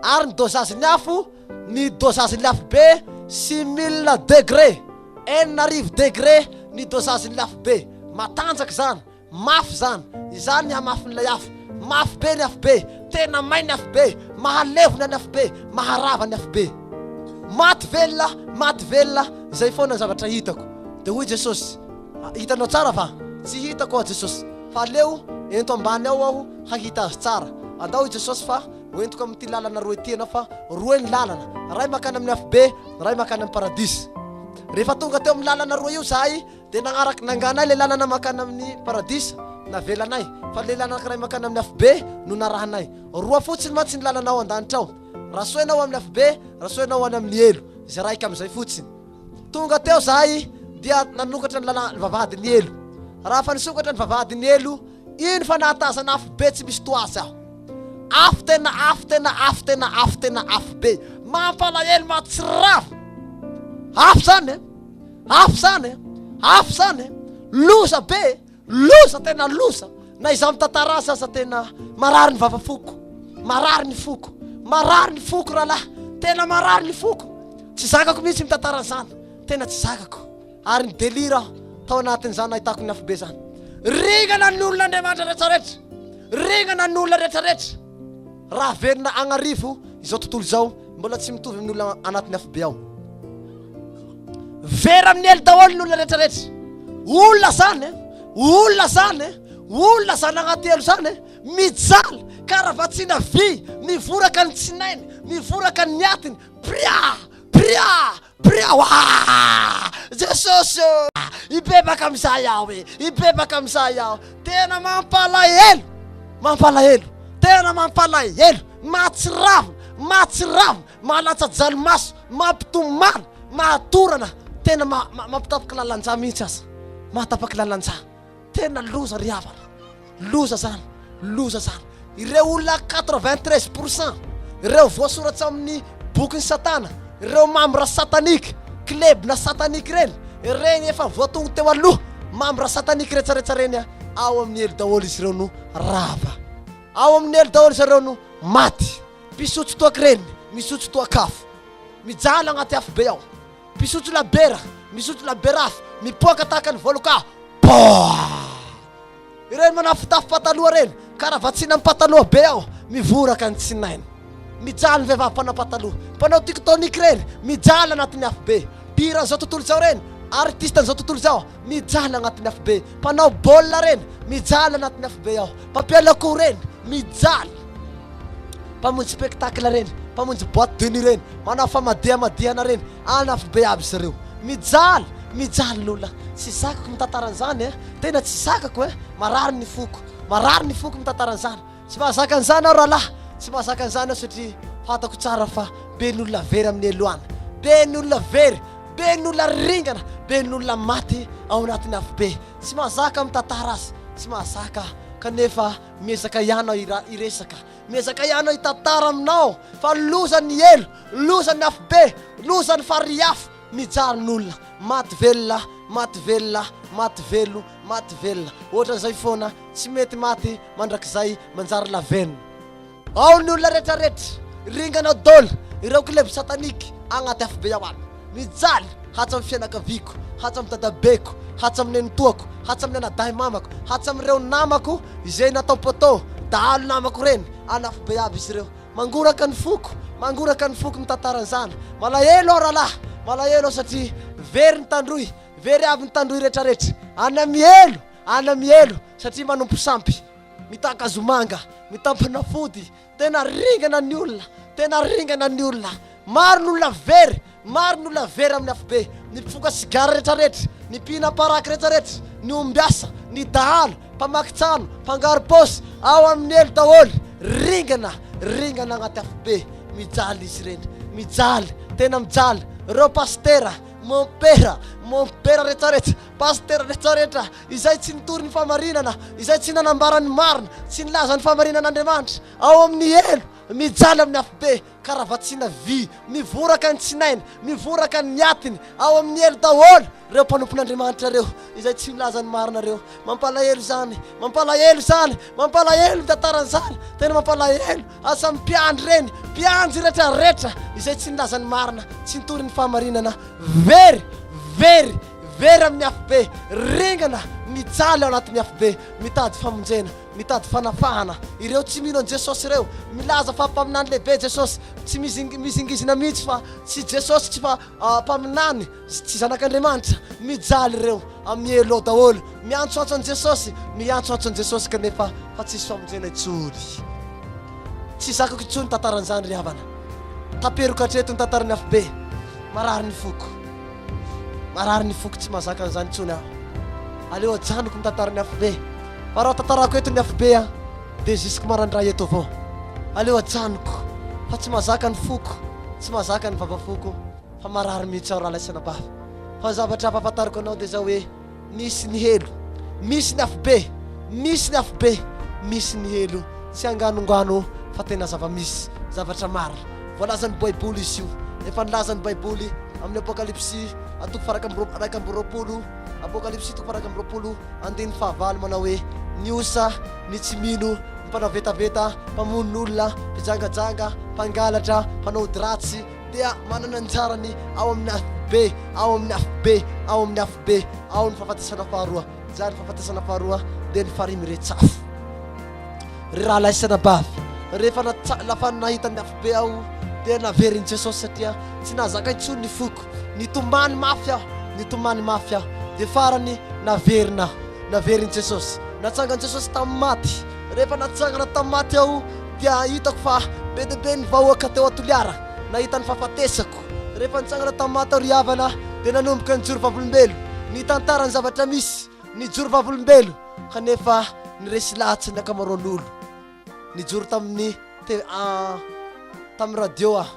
Ary ny dosage ny afo, ny dosage ny afobe six mille degre, enina arivo degre ny dosage ny afobe. Matanjaka izany. Mafy izany! Izany ny hamafin'ilay afo! Mafy be ny afobe! Tena may ny afobe! Mahalevona ny afobe! Maharava ny afobe! Maty velona! Maty velona! Izay foana ny zavatra hitako! Dia hoy Jesosy, Hitanao tsara va? Tsy hitako aho Jesosy! Fa aleo ento ambany ao aho hahita azy tsara! Andao hoy Jesosy fa hoentiko amin'ity lalana roa ity ianao fa roa ny lalana, iray mankany amin'ny afobe, ny iray mankany amin'ny paradisa. Rehefa tonga teo amin'ny lalana roa io izahay, Dia nagnaraka nanganay ilay lalana mankany amin'ny Paradisa navelanay, fa ilay lalana anankiray mankany amin'ny Afobe no narahanay. Roa fotsiny mantsy ny lalana ao an-danitra ao, raha soa ianao ho amin'ny Afobe, raha soa ianao ho any amin'ny Helo, izay raika amin'izay fotsiny. Tonga teo izahay dia nanokatra ny lalana, ny vavahadin'ny Helo. Raha efa nisokatra ny vavahadin'ny Helo, iny fa nahatazana Afobe tsy misy toa azy aho. Afo tena afo, tena afo, tena afo, tena afo be, mampalahelo, mahatsiravina. Afo izany e! Afo zany e! Afo zany e! Loza be e! Loza tena loza! Na izaho mitantara azy aza tena marary ny vava foko, marary ny foko, marary ny foko rahalahy, tena marary ny foko. Tsy zakako mihitsy mitantara an'izany, tena tsy zakako. Ary ny delira aho tao anatin'izany nahitako ny afobe zany. Ringana ny olona Andriamanitra rehetra rehetra, ringana ny olona rehetra rehetra. Raha velona agnarivo izao tontolo izao, mbola tsy mitovy amin'ny olona anatin'ny afobe ao. Vera amin'ny elo daholo ny olona rehetrarehetra. Olona zany e, olona zany e, olona zany agnaty elo zany e, mijaly, karavatsiana vy, mivoraka ny tsinainy, mivoraka ny atiny, pria, pria, Birao aa! Jesosy ô! Hibebaka amin'izay aho e! Hibebaka amin'izay aho! Tena mampalahelo! Mampalahelo! Tena mampalahelo! Mahatsiravina! Mahatsiravina! Mahalatsa-dranomaso! Mampitomany! Mahatorana! Tena ma- ma- mampitapak'lalan-drà mihitsy aza! Mahatapak'lalan-drà! Tena loza ry havana, loza zany, loza zany. Ireo olona quatre vingt treize pour cent ireo voasoratra amin'ny bokin'i satana, ireo membres sataniques, klebona sataniques ireny, ireny efa voatongo teo aloha, membres sataniques retraretra ireny ao amin'ny helo daholo izy ireo no rava. Ao amin'ny helo daholo zareo no maty. Mpisotro toaka ireny, misotro toak'afo. Mijaly agnaty afo be ao. Mpisotro labiera, misotro labiera hafa, mipoaka tahaka ny voaloka ah! Poah! Ireny manafotafo pataloha ireny, karavatsiana amin'ny pataloha be ao, mivoraka ny tsinainy. Mijaly ny vehivavy mpanao pataloha, mpanao tiktonik ireny, mijaly anatin'ny afo be. Mpihira an'izao tontolo izao ireny, artiste an'izao tontolo izao. Mijaly agnatin'ny afobe. Mpanao baolina reny, mijaly agnatin'ny afobe ao. Mpampiala akoho reny, mijaly. Mpamonjy spectacle reny, mpamonjy boite de nuit reny, manao famadihamadihana reny, any afobe aby izy ireo. Mijaly, mijaly ny olona. Tsy zakako mitantara an'izany e, tena tsy zakako e, marary ny foko, marary ny foko mitantara an'izany. Tsy mahazaka an'izany aho rahalahy, tsy mahazaka an'izany aho satria fantako tsara fa be ny olona very amin'ny Eloana, be ny olona very, be ny olona ringana, be ny olona maty ao anatin'ny afobe. Tsy mahazaka mitantara azy, tsy mahazaka aho, kanefa miezaka ihany aho hira- hiresaka, miezaka ihany aho hitantara aminao fa loza ny helo, loza ny afobe, loza ny farihy afo, Mijaly n'olona, maty velona, maty velona, maty velo, maty velona. Ohatran'izay foana, tsy mety maty mandrakizay manjary lavenona. Ao ny olona retraretra, ringanao dol ireo klebo satanique agnaty afobe ao amin. Mijaly, hatsamin'ny fianakaviako, hatsamin'ny dadabeko, hatsamin'ny nenitoako, hatsamin'ny anadahy mamako, hatsamin'ireo namako izay natao poteau, dahalo namako reny, an'afobe aby izy ireo. Mangoraka ny foko, mangoraka ny foko ny tantaran'izany. Malahelo aho rahalahy, malahelo aho satria very ny tandroy, very avy ny tandroy retraretra. Ana mielo, ana mielo satria manompo sampy, mitaka hazomanga, mitampana fody. Tena ringana ny olona, tena ringana ny olona. Maro ny olona very, Maro ny olona very amin'ny afobe, ny mpifoka sigara rehetrarehetra, ny mpihina paraky rehetrarehetra, ny ombiasa, ny dahalo, mpamaky trano, mpangarom-paosy, ao amin'ny elo daholo, ringana, ringana agnaty afobe, mijaly izy ireny, mijaly, tena mijaly, reo pasitera, mompera, mompera rehetrarehetra, pasitera rehetrarehetra, izay tsy nitory ny fahamarinana, izay tsy nanambara ny marina, tsy nilaza ny fahamarinan'Andriamanitra, ao amin'ny elo, mijaly amin'ny afobe, Karavatsina vy, mivoraka ny tsinainy, mivoraka ny atiny, ao amin'ny helo daholo ireo mpanompon'Andriamanitra ireo, izay tsy milaza ny marina ireo. Mampalahelo izany, mampalahelo izany, mampalahelo ny tantaran'izany, tena mampalahelo, asa amin'ny mpiandry ireny, mpiandry retraretra izay tsy nilaza ny marina, tsy nitory ny fahamarinana, very, very, very amin'ny afobe, ringana, mijaly ao anatin'ny afobe, mitady famonjena, Mitady fanafahana ireo tsy mino an'i Jesosy ireo. Milaza fa mpaminany lehibe Jesosy. Tsy mizingizina mihitsy fa tsy Jesosy tsy fa mpaminany sy tsy zanak'Andriamanitra. Mijaly ireo amin'ny hello daholo. Miantsoantso an'i Jesosy, miantsoantso an'i Jesosy kanefa fa tsisy famonjena intsony. Tsy zakako intsony tantaran'izany ry havana. Taperiko hatreto ny tantaran'ny afobe. Marary ny foko. Marary ny foko tsy mahazaka an'izany intsony aho. Aleo ajanoko ny tantaran'ny afobe. Fa raha tantarako eto ny afobe an, dia jusque marandray eto avao. Aleo ajanoko fa tsy mahazaka ny foko, tsy mahazaka ny vavafoko. Fa marary mihitsy aho raha laisana bava. Fa ny zavatra ampahafantariko anao dia izao hoe. Misy ny helo, misy ny afobe, misy ny afobe, misy ny helo, tsy anganongano fa tena zava-misy, zavatra marina. Voalazan'ny Baiboly izy io. Efa nilaza ny Baiboly amin'ny Apokalypsy a toko faharaika amby roa, iraika amby roapolo, Apokalypsy toko faharaika amby roapolo andininy fahavalo manao hoe, Ny osa, ny tsy mino, ny mpanao vetaveta, mpamono olona, mpijangajanga, mpangalatra, mpanao ody ratsy, dia manana anjarany ao amin'ny afobe, ao amin'ny afobe, ao amin'ny afobe, ao ny fahafatesana faharoa. Zary fahafatesana faharoa dia ny farihy miretsafo. Ry rahalahy sy anabavy, rehefa natsa- lafa nahita ny afobe aho dia naverin'i Jesosy satria tsy nahazaka intsony ny foko. Nitomany mafy aho, nitomany mafy aho. Dia farany naverina aho, naverin'i Jesosy. Natsangan'i Jesosy tamin'ny maty. Rehefa natsangana tamin'ny maty aho dia hitako fa be dia be ny vahoaka teo Toliara nahita ny fahafatesako. Rehefa nitsangana tamin'ny maty aho ry havana dia nanomboka nijoro vavolombelo, nitantara ny zavatra misy, nijoro vavolombelo kanefa niresy lahatsy ny ankamaroan'olo. Nijoro tamin'ny te tamin'ny radio aho,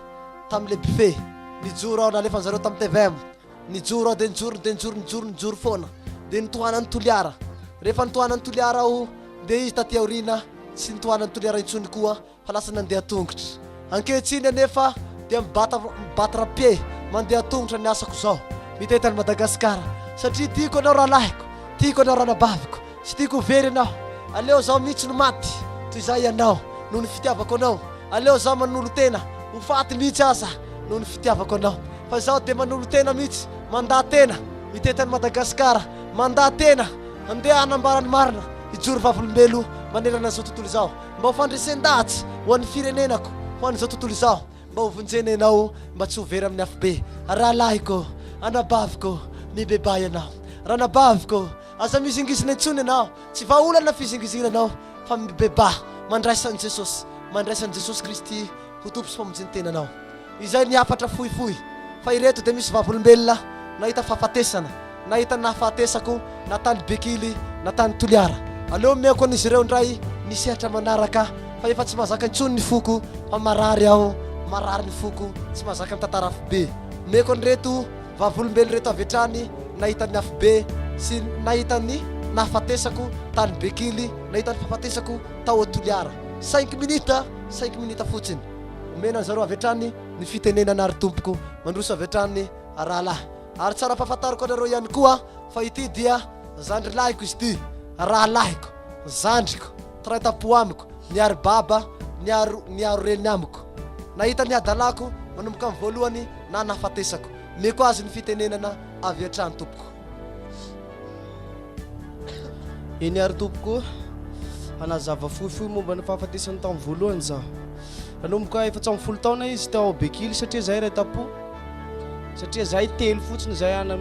tamin'ilay buffet, nijoro aho nalefan'izareo tamin'ny tvm. Nijoro aho dia nijoro dia nijoro nijoro nijoro foana dia nitohanan'i Toliara. Rehefa nitohanan'i Toliara aho dia izy taty aoriana tsy nitohanan'i Toliara intsony koa fa lasa nandeha tongotra. Ankehitriny anefa dia mibata battre pied mandeha tongotra ny asako izao. Mitety an'i Madagasikara satria tiako ianao rahalahiko, tiako ianao ranabaviko, Tsy tiako ho very ianao Aleo zaho mihitsy no maty Toy izay ianao Noho ny fitiavako anao Aleo zaho manolo-tena Ho faty mihitsy aza Noho ny fitiavako anao Fa izaho dia manolo-tena mihitsy Mandaha-tena Mitety an'i Madagasikara Mandaha-tena Handeha hanambara ny marina Hijoro vavolombelo Manerana izao tontolo izao Mba ho fandresen-dahatsy Ho an'ny firenenako Ho an'izao tontolo izao Mba ho vonjena ianao Mba tsy ho very amin'ny afobe Rahalahiko Anabaviko Mibebaha ianao Ranabaviko Aza mizingizina intsony ianao, tsy vahaolana fizingizina anao fa mibebaha mandraisa an'i Jesosy, mandraisa an'i Jesosy Kristy ho Tompo sy Mpamonjy ny tenanao. Izay ny hafatra fohifohy, fa ireto dia misy vavolombelona nahita fahafatesana, nahita nahafahatesako na tany Bekily na tany Toliara. Aleo omeko an'izy ireo indray ny sehatra manaraka fa efa tsy mahazaka intsony ny foko fa marary aho, marary ny foko, tsy mahazaka mitantara fobe. Omeko an'ireto. Vavolombelo ireto avy hatrany nahita ny afobe sy nahita ny nahafatesako tany Bekily, nahita ny fahafatesako tao Toliara. Cinq minutes, cinq minutes fotsiny. Omena an zareo avy hatrany ny fitenenana ry Tompoko. Mandroso avy hatrany rahalahy. Ary tsara ampahafantariko anareo ihany koa fa ity dia zandrilahiko izy ity, rahalahiko, zandriko. Taraita-po amiko, niaro baba, niaro, niaro reny amiko. Nahita ny hadalako, manomboka amin'ny voalohany na nahafatesako. Omeko azy ny fitenenana avy hatrany, tompoko. Eny àry, tompoko. Hanazava fohifohy momba ny fahafatesany tamin'ny voalohany izaho. Nanomboka efatsy amby folo taona izy teo Aubekili, satria izahay iray tam-po. Satria izahay telo fotsiny, izahay ana,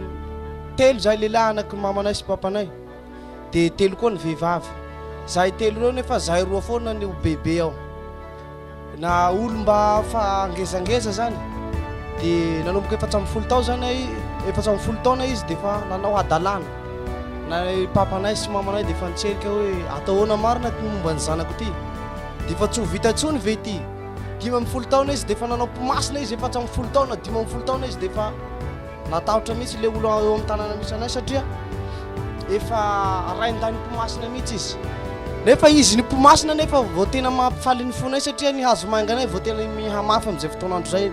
telo izahay, lehilahy, anaky ny mamanay sy papanay. Dia telo koa ny vehivavy. Zahay telo ireo nefa zahay roa foana ny ho bebe ao. Na olo mba fa ngezangeza zany. Dia nanomboka efatra ambin'ny folo tao zany ay, efatra ambin'ny folo taona izy dia fa nanao hadalana. Na papanay sy mamanay dia fa nitserika hoe atao ahoana marina ity momba ny zanako ity. Dia fa tsy ho vita intsony ve ity. Dimy ambin'ny folo taona izy dia fa nanao mpimasina izy, efatra ambin'ny folo taona, dimy ambin'ny folo taona izy dia fa. Natahotra mihitsy ilay olona eo amin'ny tanàna misy anay satria efa rain-dahin'ny mpimasina mihitsy izy. Nefa izy ny mpimasina anefa vao tena mampifaly ny fonay satria ny hazomainganay vao tena mihamafy amin'izay fotoan'andro izay.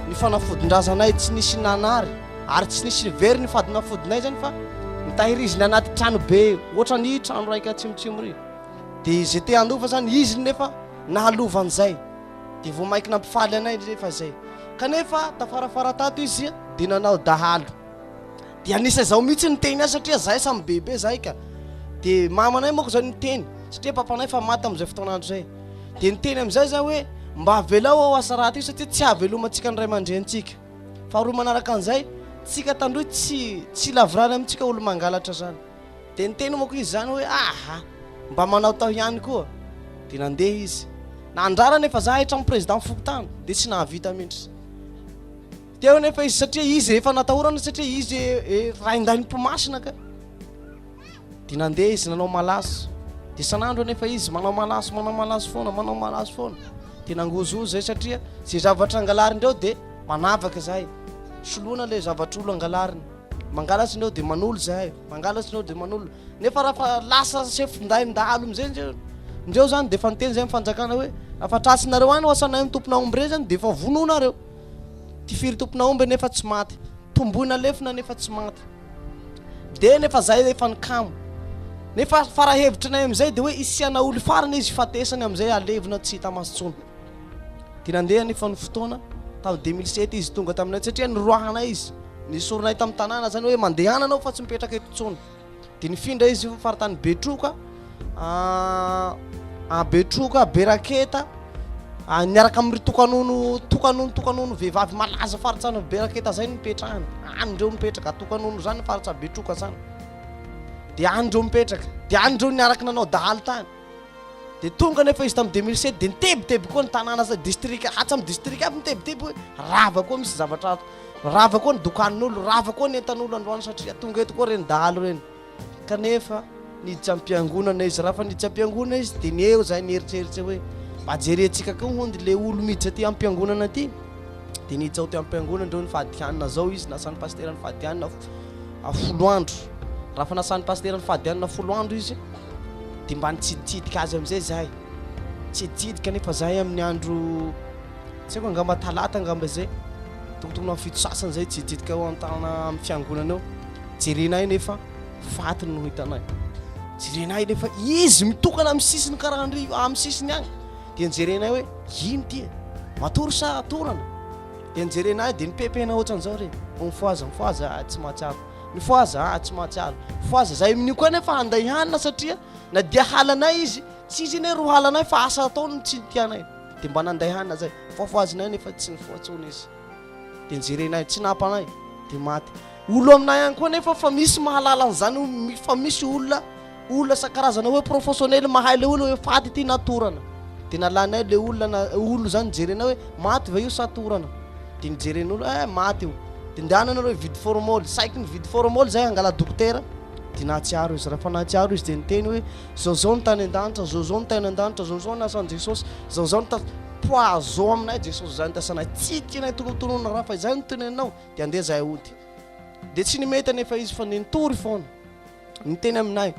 Ny fanafodin-drazanay tsy nisy nanary ary tsy nisy nivery ny fadinafodinay izany fa nitahiriziny anaty trano be ohatran'ny trano raika atsimotsimo ry. Dia izay te-handova izany izy nefa nahalova an'izay. dia vao mainka nampifaly anay rehefa izay. Kanefa tafarafara tato izy dia nanao dahalo. Dia anisa izaho mihitsy ny teny azy satria zahay samy bebe zahay ka. Dia mamanay moako izao ny teny satria papanay fa maty tamin'izay fotoana andro izay. Dia ny teny amin'izay za hoe mba avelao ao asa raty io satria tsy ahavelomantsika ny ray aman-drenintsika. Faharoa manaraka an'izay, tsika tandroy tsy tsy lavorary amintsika olo-mangalatra zany. Dia niteny manko izy izany hoe, Aha! Mba manaotao ihany koa. Dia nandeha izy. Nandrara anefa za hatramin'ny président fokontany, dia tsy nahavita mihitsy. Teo anefa izy satria izy efa natahorana satria izy e, e, raindain'ny mpimasina ka. Dia nandeha izy nanao malaso. Dia sanandro anefa izy manao malaso, manao malaso foana, manao malaso foana. Dia nangozohozo zay satria izay zavatra angalarindreo dia manavaka zay. Soloina le zavatr'olo angalariny. Mangala tsy neo de manolo zahay, mangala tsy neo de manolo. Nefa raha fa lasa chef nday ndalo amizay ndreo, ndreo zany de efa niteny zay ny fanjakana hoe raha fa tratsinareo any wasanay ny tompon'ahomby rey zany de efa vonoinareo. Tifiry tompon'ahomby nefa tsy maty, tomboina lefona nefa tsy maty. De nefa zay efa ny kamo. Nefa fara hevitry nay amizay de hoe isiana oly farany izy hifatesany amizay halevina tsy hita maso tsony. De nandeha nefa ny fotoana, tam deux mille sept izy tonga taminay satria noroahanay izy. Nesorinay tamin'ny tanàna izany hoe mandehana anao fa tsy mipetraka eto intsony. Dia nifindra izy amin'ny faritany Betroka, à Betroka, Beraketa, niaraka amin'ireo tokanono, tokanono, tokanono vehivavy malaza faritany Beraketa izay no nipetrahany. Any ireo mipetraka, tokanono izany faritsa Betroka izany. Dia any ireo mipetraka, dia any ireo niaraka nanao dahalo tany. Dia tonga anefa izy tamin'ny 2007 dia nitebiteby koa ny tanàna sy distrika, hatramin'ny distrika aby nitebiteby hoe rava koa misy zavatra ato, rava koa ny dokan'olo, rava koa ny entan'olo androany satria tonga eto koa ireny dahalo ireny. Kanefa niditra am-piangonana izy, raha fa niditra am-piangonana izy dia ny eo izay nieritreritra hoe mba jerentsika koa hony ilay olo miditra aty am-piangonana aty. Dia niditra ao teo am-piangonana ireo ny fahadikanina zao izy, nasan'ny pasitera ny fahadikanina. folo andro raha fanasan'ny pasitera ny fady hanina folo andro izy dia mba nitsiditsidika azy amin'izay izahay tsiditsidika nefa izahay amin'ny andro tsy haiko angamba talata angamba izay tokotokony amin'ny fito sasany izay tsiditsidika eo an-tanana amin'ny fiangonana eo jerenay nefa faty no hitanay jerenay nefa izy mitokana amin'ny sisiny karahandry amin'ny sisiny agny dia nijerenay hoe ino ty e matory sa atorana Dia nijerena ahy dia nipepena ohatran'izao re, mifohaza mifohaza aho tsy mahatsiaro, mifohaza aho tsy mahatsiaro, mifohaza za amin'io koa nefa handay hanina satria na dia halanay izy, tsy izy anie ro hala anay fa asa ataony no tsy tianay, dia mba nanday hanina zay, fohafohazina ahy nefa tsy nifoha intsony izy, dia nijerena ahy, tsy napa anay, dia maty. Olo aminay ihany koa anefa fa misy mahalala an'izany hoe fa misy olona olona isan-karazana hoe professionnel mahay le olona hoe faty ity na torana dia nalanay le olona olona izany nijerenay hoe maty ve io sa torana dia nijeren'olo eh maty io dia ndehanana hoe vide formol saiky ny vide formol izay angala dokotera dia nahatsiaro izy raha fa nahatsiaro izy dia niteny hoe zao zao ny tany an-danitra zao zao ny tany an-danitra zao zao ny asan'i Jesosy zao zao ny ta poison aminay Jesosy izany tasanay tsy tianay tonontonona raha fa izay no tenenao Dia andeha izahay hody. Dia tsy nimety anefa izy fa nitory foana. Niteny aminay.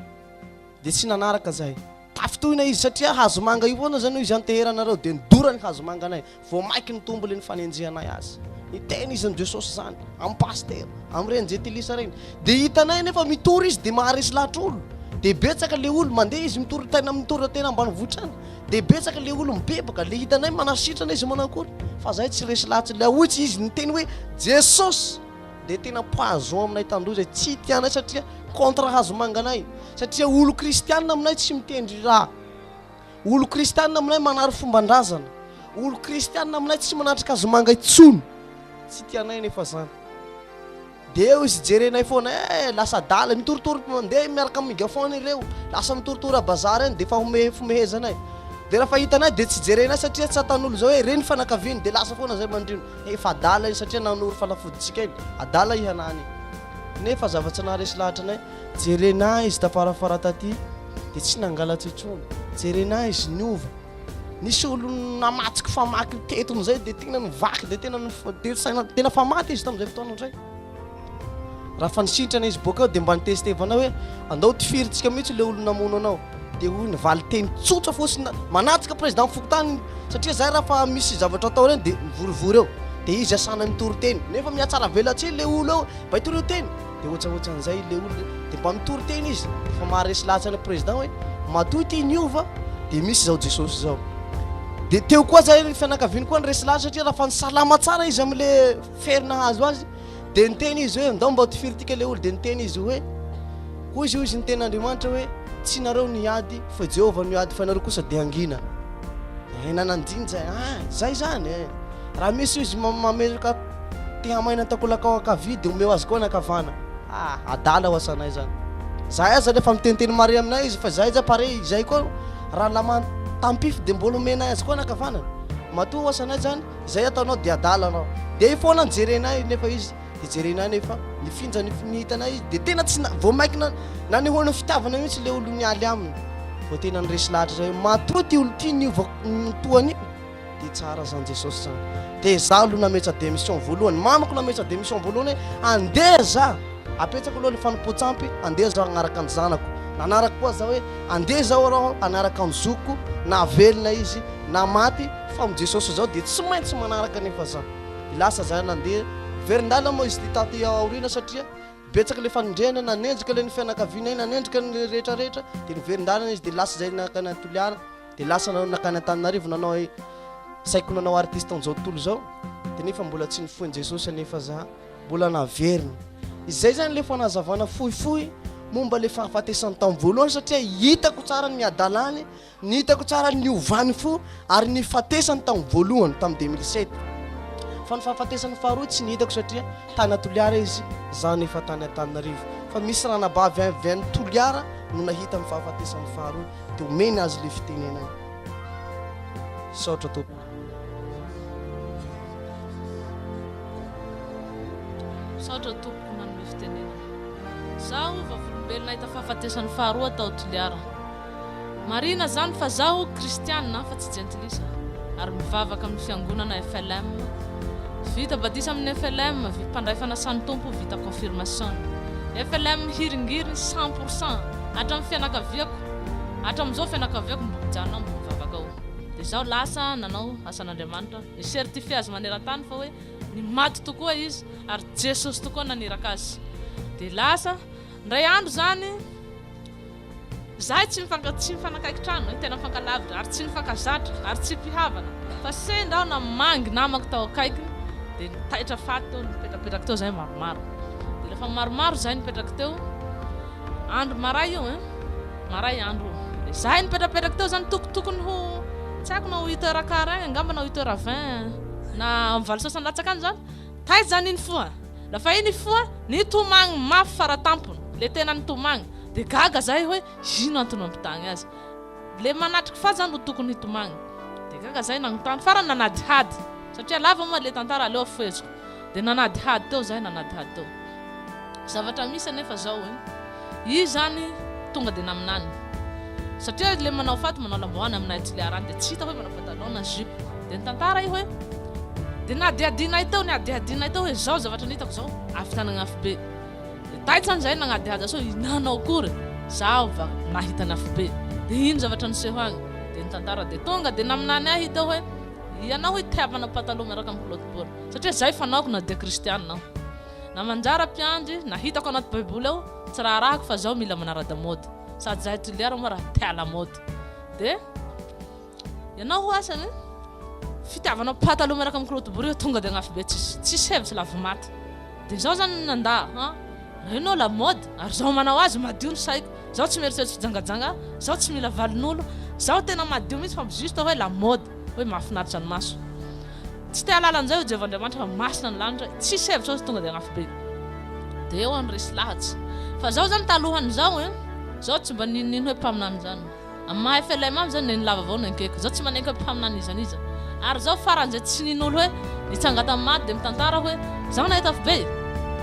Dia tsy nanaraka izahay. Tafintohina izy satria hazomanga io foana izany hoy izy anteheranareo. Dia nidora ny hazomanganay. Vao mainka nitombo ilay nifanenjehanay azy. Niteny izy amin'i Jesosy izany, amin'ny pasitera, amin'ireny jentilisa ireny. Dia hitanay anefa mitory izy dia maharesy lahatr'olo. Dia betsaka ilay olona. Mandeha izy mitory tena mitory tena ambanivohitra any. dia betsaka le olo mibebaka le hitanay manasitrana izy manakory fa zay tsy resy latsy le ahoy tsy izy niteny hoe jesosy dia tena poison aminay tandroy zay tsy tianay satria contre hazo manganay satria olo kristianina aminay tsy mitendry raha olo kristianina aminay manary fomban-drazana olo kristianina aminay tsy manatrika hazo manga intsony tsy tianay nefa zany Dia eo izy jerenay foana eh! Lasa adala, mitoritory mandeha miaraka amin'ny megaphone ireo, lasa mitoritory à bazar eny dia efa homehefomehezana eh! Dia raha fa hitanay dia tsy jerenay satria tsatan'olo izao hoe ireny fanakaviany dia lasa foana izay mandriona eh! Efa adala iny satria nanoro fanafodintsika iny, adala hihanany iny. Nefa zava-tsy naharesy lahatra anay, jerenay izy tafarafara taty dia tsy nangalatra intsony, jerenay izy niova, Nisy olo namatsiko famaky ny teto amizay dia tena nivaky dia tena dia saina tena fa maty izy tamin'izay fotoana indray raha fa nisintrana izy boaka eo dia mba nitestevana hoe andao tifirintsika mihitsy le olona namono anao dia hoy ny valinteny tsotra fotsiny manatsika président fokontany satria zay raha fa misy zavatra atao ireny dia mivorivory eo dia izy asana mitory teny nefa mihatsaravelatsihy le olo eo mba hitorio teny Dia ohatsaohatsan'izay ilay olona dia mba mitory teny izy rehefa maharesy lahatsany ny président hoe matoa ity niova dia misy izao Jesosy izao. Dia teo koa zay ny fianakaviany koa niresy lahatra satria raha fa ny salama tsara izy amin'ilay fery nahazo azy dia niteny izy hoe ndao mba tifiritika ilay olona dia niteny izy hoe hoy izy hoy izy niteny Andriamanitra hoe tsy nareo ny ady fa Jehovah ny ady fa nareo kosa dia hangina. Eh nananjiny zay ah zay zany eh raha misy izy mametraka Te hamaina ny takolakao ankavia dia omeo azy koa ny ankavana. Ah! Adala ho asanay izany. Izahay aza rehefa miteniteny marie aminay izy fa izahay aza pare izay koa raha namany tampify dia mbola omenay azy koa ny ankavanany. Matoa ho asanay izany, izay ataonao dia adala anao. Dia eo foana no jerenay nefa izy dia jerenay nefa mifinja ny ny hitanay izy dia tena tsy na vao mainka na nanehoana ny fitiavana mihitsy ilay olona nialy aminy vao tena niresy lahatra izay hoe matoa ity olona ity niova ny toa ny Dia tsara zany Jesosy zany. Dia za aloha nametra démission voalohany. Mamako nametra démission voalohany hoe andeha za. Apetrako aloha ny fanompoan-tsampy, andeha za hanaraka ny zanako. Nanaraka koa za hoe andeha izao arao hanaraka ny zokiko na velona izy na maty fa amin'i Jesosy izao dia tsy maintsy manaraka anefa za. Dia lasa za nandeha. Verin-dalana moa izy ity taty aoriana satria betsaka ilay fanendrehana, nanenjika ilay ny fianakavianay, nanenjika ny rehetra rehetra dia niverin-dalana izy dia lasa izay nankany Toliara. dia lasa nanao nakany Antananarivo nanao e saiko nanao artiste an'izao tontolo izao dia nefa mbola tsy nifoin'i Jesosy anefa za mbola naverina izay zany le fanazavana fohifohy momba le fahafatesany tamin'ny voalohany satria hitako tsara ny miadalany ny hitako tsara ny ovany fo ary ny fatesany tamin'ny voalohany tamin'ny 2007 fa ny fahafatesany faharoa tsy ny hitako satria Tany a Toliara izy, izaho anefa tany Antananarivo. Fa misy ranabavy avy any Toliara no nahita ny fahafatesany faharoa dia omeny azy ilay fitenenana. Misaotra tompoko. Misaotra tompoko nanome fitenenana. Izaho vavolombelona nahita fahafatesany faharoa tao Toliara. Marina zany fa zaho kristiana fa tsy jentilisa ary mivavaka amin'ny fiangonana FLM vita badisa amin'ny FLM vy mpandray fanasan'ny Tompo vita confirmation FLM hiringiriny cent pour cent hatramin'ny fianakaviako hatramin'izao fianakaviako mbo mijanona mbo mivavaka ao dia zaho lasa nanao asan'Andriamanitra ni certifier azy manerantany fa hoe ny maty tokoa izy ary Jesosy tokoa naniraka azy dia lasa indray andro zany Izahay tsy mifank tsy mifanakaiky trano hoe tena mifankalavitra ary tsy nifankazatra ary tsy mpihavana fa sendra aho namangy namako tao akaikiny dia nitaitra faty teo nipetrapetraky teo izahay maromaro dia rehefa maromaro izahay nipetraky teo andro maray io hein maray andro io dia izahay nipetrapetraky teo izany toko tokony ho tsy haiko na huit heures quart agny angamba na huit heures vingt na amin'ny valo sasany latsaka any izany Taiza ny nifoha? Lafa i nifoha nitomagny mafy fara tampony, le tena nitomagny, de gaga zahay hoe ino antony mampitagny azy? Le manatriky fa zany ro tokony hitomagny? De gaga zahay nagnontany, farany nanadihady, satria lava moa le tantara aleo afoheziko, de nanadihady teo zahay, nanadihady teo. Zavatra misy anefa zao e, izy zany tonga de naminany satria izy le manao faty manao lambahoany aminay aty le arany de tsy hita hoe manao patalon na jupe de ny tantara io hoe de nihadihadinay teo nihadihadinay teo hoe zao zavatra nitako zao avy tany Agnafobe de taitra any zahay nagnadihady sao hihinana ao akory zaho va nahita ny Afobe de ino zavatra niseho agny de ny tantara de tonga de naminany ahy teo hoe ianao hoy te hampanao patalon miaraka amin'ny culotte bol satria zay fanaoko na dia kristianina aho Namanjara mpiandry, na hitako anaty baiboly ao, tsy raharahako fa zaho mila manarada mode, sady zahay toliara moa raha te à la mode. Dia ianao ho asany, fitiavanao pataloha miaraka amin'ny culotte bory eo tonga dia agnafibe tsisy tsisy hevitra lavo maty. Dia zaho zany nandà ha, hainao la mode, ary zaho manao azy madio ny saiko, zaho tsy mieritreritry fijangajanga, zaho tsy mila valin'olo, zaho tena madio mihitsy fa juste hoe la mode, hoe mahafinaritra ny maso. Tsy te halala an'izay, hoy Jehovah Andriamanitra, fa masina ny lanitra, tsisy hevitra ao izy, tonga dia anafobe. Dia eo aho niresy lahatsy. Fa izao izany talohan'izao e! Izao tsy mba nininino hoe mpaminany izany. Amin'ny maha FLM azy izany dia ny lava vao no enkeko. Izao tsy manenka hoe mpaminany iza n'iza. Ary izao faran'izay tsy nino olo hoe nitsanga tamin'ny maty dia mitantara hoe, izaho nahita afobe e!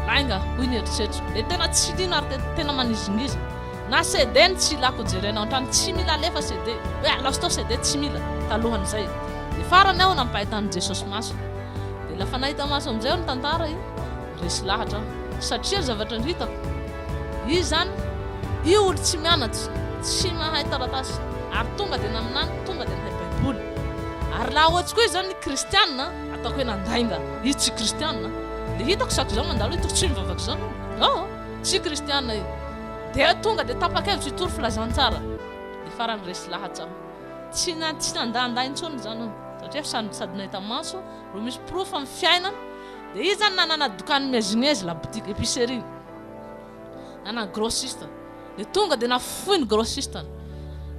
Lainga, hoy ny eritreritro. Dia tena tsy nino ary tena manizingizy. Na CD ny tsy ilako jerena ao antrano tsy mila alefa CD hoe alaoso tao CD tsy mila talohan'izay dia farany aho nampahitan'i Jesosy maso dia lafa nahita maso amin'izay aho ny tantara io resy lahatra aho satria zavatra hitako izy zany io olo tsy mianatry tsy mahay taratasy ary tonga dia naminany tonga dia nahay baiboly ary laha ohatsy koa izy zany ny kristiana ataoko hoe nandainga izy tsy kristiana dia hitako saky zao mandalo hitako tsy mivavaka zao oh tsy kristiana io Dia tonga dia tapa-kevitra hitory filazantsara. Dia farany resy lahatra aho. Tsy tsy nandandà intsony izany aho, satria sady sady nahita maso ireo misy porofo amin'ny fiainana, dia izy izany nanana dokan'ny mezimezy, la boutique, épicerie, nanana grossiste, dia tonga dia nafoy ny grossiste,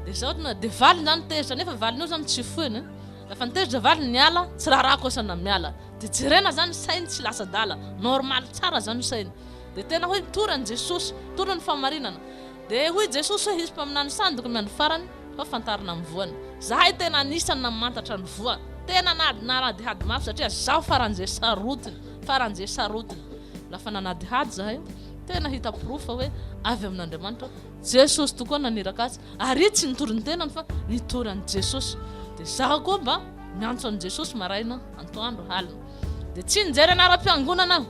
dia izao tonga dia valiny izany tezitra, nefa valiny io izany tsy foiny, rehefa nitezitra valiny niala, tsy raharahako asa na miala, dia jerena izany sainy tsy lasa adala, normal tsara izany sainy. Dia tena hoe mitory an'i Jesosy, mitory ny fahamarinana. Dia hoy Jesosy hoe hisy mpaminany sandiko ny andro farany, fa fantarina amin'ny voany. Zahay tena anisan'ny namantatra ny voa. Tena nanadihady mafy satria zaho faran'izay sarotiny, faran'izay sarotiny. Lafa nanadihady zahay, tena hita porofo fa hoe avy amin'Andriamanitra aho. Jesosy tokoa naniraka azy, ary i tsy nitory ny tenany fa nitory an'i Jesosy. Dia zaho koa mba miantso an'i Jesosy maraina, antoandro, alina. Dia tsy nijery anaram-piangonana aho.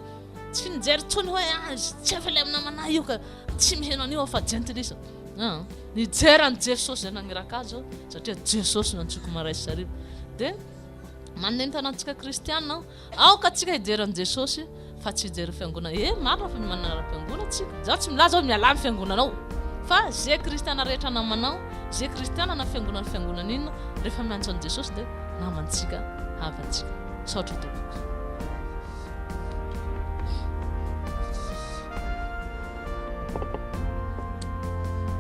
Tsy nijery intsony hoe azy, tsy efa ilay amin'ny namana io ka tsy miheno an'io aho fa jentilisa. Ah, nijery an'i Jesosy izay naniraka azy aho satria Jesosy no antsoiko maray sy hariva. Dia manentana antsika kristiana aho, aoka antsika hijery an'i Jesosy fa tsy hijery ny fiangonana. Eh, marina fa mimanana ara-piangonana tsika. Izaho tsy milaza hoe mialà ny fiangonanao. Fa izay kristiana rehetra namanao, izay kristiana na fiangonana fiangonana inona, rehefa miantso an'i Jesosy dia namantsika, havantsika. Misaotra tompoko.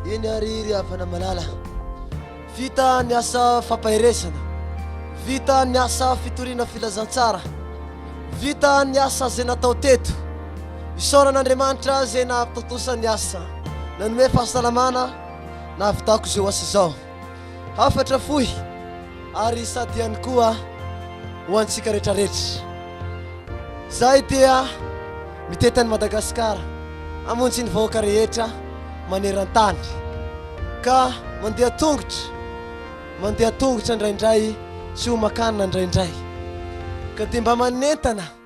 Eny ary ry havana malala, vita ny asa fampaherezana, vita ny asa fitoriana filazantsara, vita ny asa izay natao teto. Isaorana Andriamanitra izay nahatontosa ny asa, nanome fahasalamana, nahavitako izao asa izao. Hafatra fohy ary sady ihany koa ho antsika retraretra. Zahay dia mitety an'i Madagasikara hamonjy ny vahoaka rehetra maneran-tany ka mandeha tongotra, mandeha tongotra indraindray tsy homan-kanina indraindray ka dia mba manentana.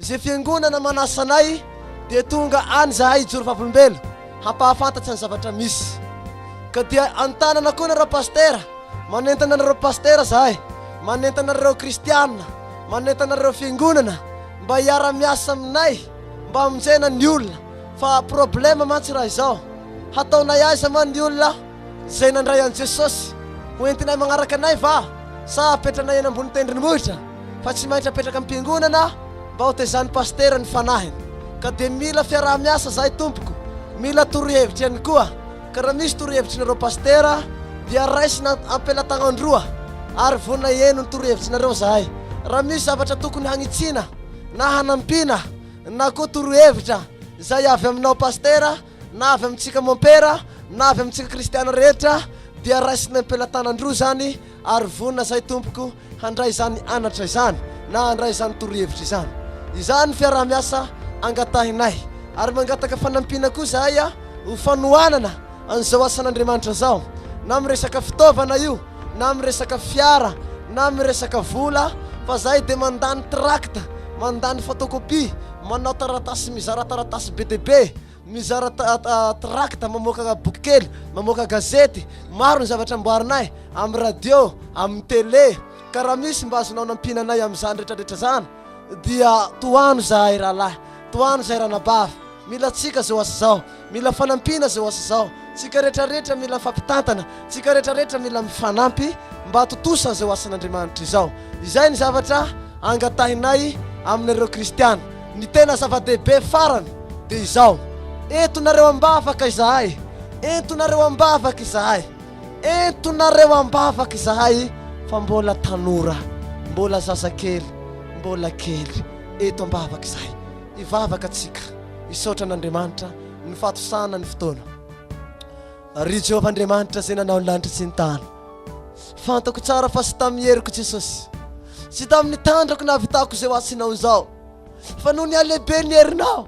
Izay fiangonana manasa anay dia tonga any izahay hijoro vavolombelona hampahafantatsa ny zavatra misy. Ka dia antanana koa nareo pasitera, manentana anareo pasitera izahay, manentana anareo kristiana, manentana anareo fiangonana mba hiara miasa aminay mba hamonjena ny olona fa problème mantsy raha izao. Hataonay aiza man ny olona? Izay nandray an'i Jesosy ho entinay magnaraka anay va sa apetranay eny ambony tendrombohitra fa tsy maintsy apetraka am-piangonana mba ho tezain'ny pasitera ny fanahiny ka dia mila fiaraha-miasa zahay tompoko mila torohevitra ihany koa ka raha misy torohevitrinareo pasitera dia raisina am-pelatagnan-droa ary vonona hihaino ny torohevitsinareo zahay raha misy zavatra tokony hagnitsiana na hanampiana na koa torohevitra izay avy aminao pasitera na avy amintsika mompera na avy amintsika kristiana rehetra dia raisina am-pelatanan-droa izany ary vonona izahay tompoko handray izany anatra izany na handray izany torohevitra izany. Izany ny fiaraha-miasa angatahinay ary mangataka fanampiana koa izahay ho fanohanana an'izao asan'Andriamanitra izao na amin'ny resaka fitaovana io na amin'ny resaka fiara na amin'ny resaka vola fa izahay dia mandany trakta, mandany photocopie, manao taratasy, mizara taratasy be dia be, mizara trakta, mamoaka boky kely, mamoaka gazety, maro ny zavatra amboarinay amin'ny radio, amin'ny tele, ka raha misy mba azonao nampiana anay amin'izany rehetrarehetra izany dia tohano izahay rahalahy, tohano izahay ranabavy, mila antsika izao asa izao. Mila fanampiana zao asa zao. Tsika rehetra rehetra mila fampitantana. Tsika rehetra rehetra mila mifanampy mba hatontosa zao asan'Andriamanitra izao. Izay ny zavatra angatahinay aminareo kristiana. Ny tena zava-dehibe farany dia izao, entonareo am-bavaka izahay. Entonareo am-bavaka izahay. Entonareo am-bavaka izahay fa mbola tanora, mbola zazakely, mbola kely. Eto am-bavaka izahay. hivavaka tsika hisaotra an'Andriamanitra ny fahatosana ny fotoana Ry Jehovah Andriamanitra izay nanao ny lanitra sy ny tany Fantako tsara fa tsy tamin'ny heriko Jesosy Tsy tamin'ny tandrako nahavitako izay ho asinao izao Fa noho ny halehibe ny herinao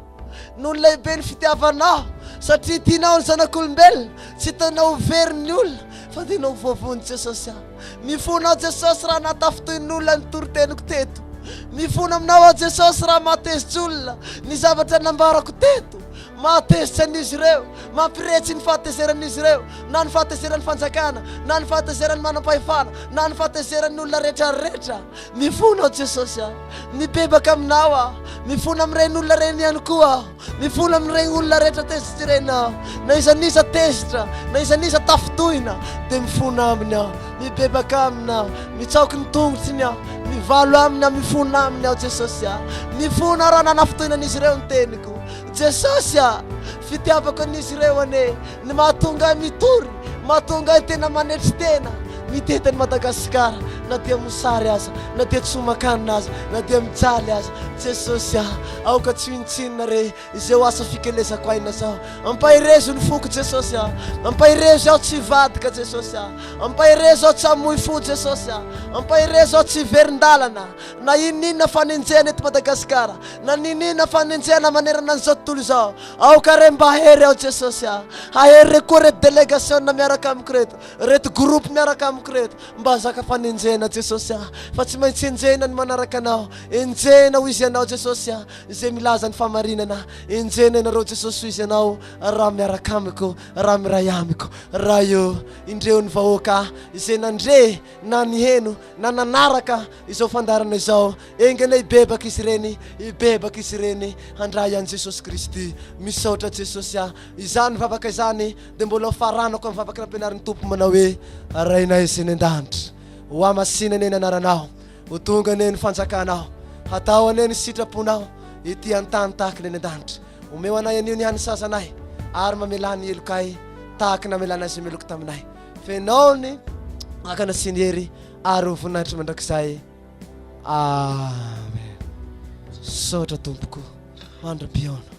Noho ny lehibe ny fitiavanao Satria tianao ny zanak'olombelona Tsy tianao ho verin'ny olona Fa tianao ho voavonjy Jesosy aho Mifona aho Jesosy raha natafintohin'olona ny toriteniko teto Mifona aminao aho Jesosy raha mahatezitra olona ny zavatra nambarako teto Mahatezitra an'izy ireo Mampiretsy ny fahatezeran'izy ireo Na ny fahatezeran'ny fanjakana Na ny fahatezeran'ny manam-pahefana Na ny fahatezeran'ny olona rehetra rehetra Mifona aho Jesosy a Mibebaka aminao aho Mifona amin'ireny olona ireny ihany koa aho Mifono amin'ireny olona rehetra tezitrirena aho, na izan'iza tezitra, na izan'iza tafintohina, dia mifono aminy aho, mibebaka aminy aho, mitsaoky ny tongotsiny aho, mivalo aminy aho, mifono aminy aho, Jesosy ah, mifono aho raha nanafintohinan'izy ireo ny teniko, Jesosy ah, fitiavako an'izy ireo anie ny mahatonga ahy mitory, mahatonga ahy tena manetry tena, mitety an'i Madagasikara, na dia mosary aza, na dia tsomakanina aza, na dia mijaly aza, Jesosy ah. Aoka tsy hintsinina re izao asa fikelezako aina zao Ampaherezo ny foko Jesosy a Ampaherezo aho tsy hivadika Jesosy a Ampaherezo aho tsy hamoy fo Jesosy a Ampaherezo aho tsy hiverin-dalana Na ininona fanenjehana eto Madagasikara Na nininona fanenjehana manerana an'izao tontolo izao Aoka re mba hery aho Jesosy a Hahery re koa reto delegasiona miaraka amiko reto Reto groupe miaraka amiko reto Mba hazaka fanenjehana Jesosy a Fa tsy maintsy enjehina ny manaraka anao Enjehina ho izy ianao Jesosy a, izay milaza ny fahamarinana, enjehina ianareo Jesosy ho izy ianao, raha miaraka amiko, raha miray amiko. Raha eo, indreo ny vahoaka izay nandre na niheno na nanaraka izao fandaharana izao, engana hibebaka izy ireny, hibebaka izy ireny handray an'i Jesosy Kristy. Misaotra Jesosy a. Izany vavaka izany dia mbola ho faranako amin'ny vavaka nampianarin'ny Tompo manao hoe, Rainay izay any an-danitra, hohamasinanay ny anaranao. Ho tonga anie ny fanjakanao, hatao anie ny sitraponao ity an-tany tahaka ny any an-danitra. Omeo anay anio ny hany sazanay, ary mamelà ny helokay tahaka ny namelanay izay meloky taminay. Fenao ny vakana sy ny hery, ary ho voninahitry mandrakizay. Amen. Misaotra tompoko, mandra-pihaona.